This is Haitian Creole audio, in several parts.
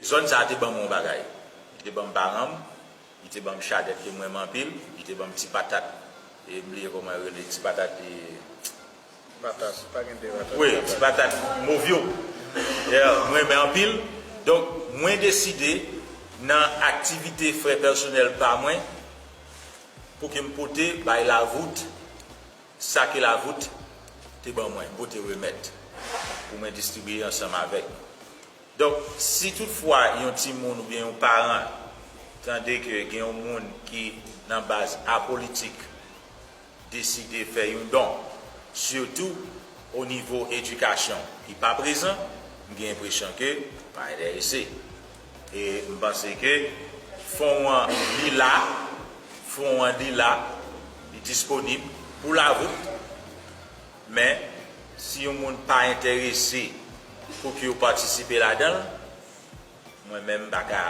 Zòn sa a te ban mwen yon bagay. Li te ban m paran m, li te ban m chadèk ke m renmen anpil, li te ban m ti patat e m bliye kòman yo rele ti patat e. Patat, pa gen de patat. Wi, ti patat mov yo. Yeah, m renmen anpil. Donk, mwen deside nan aktivite frè pèsonèl pa mwen pou ke m pote bay Lavout sa ke Lavout te ban mwen, m pote remèt pou mwen distribiye ansanm avèk. Donk, si tout fwa yon timoun oubyen yon paran tande ke gen yon moun ki nan baz apolitik deside fè yon don, sitou o nivo edikasyon ki pa prezan, m gen enpresyon ke pa enterese. E m panse ke fon an li la, fon an li la, li disponib pou la vout. Men, si yon moun pa enterese pou ki yo patisipe ladan l, mwen menm m pa ka,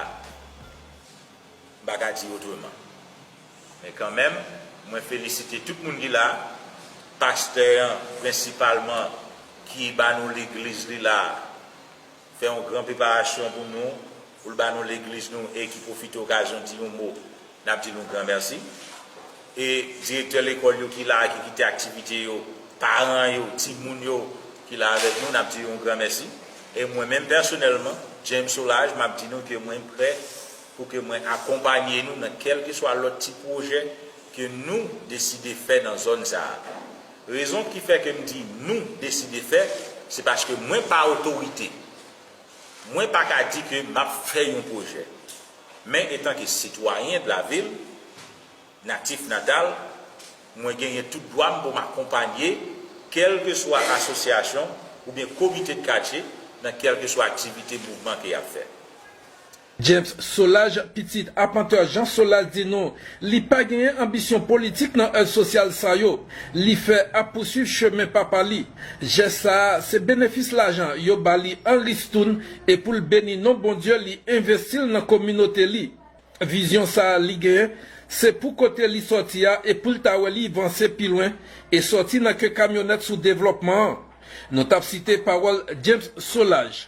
m pa ka di otreman. Men kanmenm, mwen felisite tout moun ki la, pastè an prensipalman ki ba nou legliz li la, fè yon gran preparasyon pou nou, pou l ba nou legliz nou e ki pwofite okazyon di yon mo, n ap di nou gran mèsi. E direktè lekòl yo ki la a ki kite aktivite yo, paran yo, timoun yo ki la avèk nou, n ap di yo yon gran mèsi. E mwen menm pèsonèlman, James Solage, m ap di nou ke mwen prè pou ke mwen akonpanye nou nan kèlkeswa lòt ti pwojè ke nou deside fè nan zòn sa a. Rezon ki fè ke m di nou deside fè, se paske mwen pa otorite. Mwen pa ka di ke m ap fè yon pwojè. Men etanke sitwayen de la vil, natif natal, mwen genyen tout dwa m pou m akonpanye kèlkeswa asosyasyon oubyen komite de katye nan kèlkeswa aktivite mouvman ke y ap fè. James Solage pitit Apantè Jean Solage di nou li pa genyen anbisyon politik nan èv sosyal sa yo li fè ap pousuiv chemen papa li. Jès sa a se benefis lajan yo ba li an ristoun e pou l beni non Bondye li envesti l nan kominote li. Vizyon sa a li genyen se pou kote li sòti a e pou l ta wè li vanse pi lwen e sòti nan ke kamyonèt sou devlòpman an. Nou t ap site pawòl James Solage.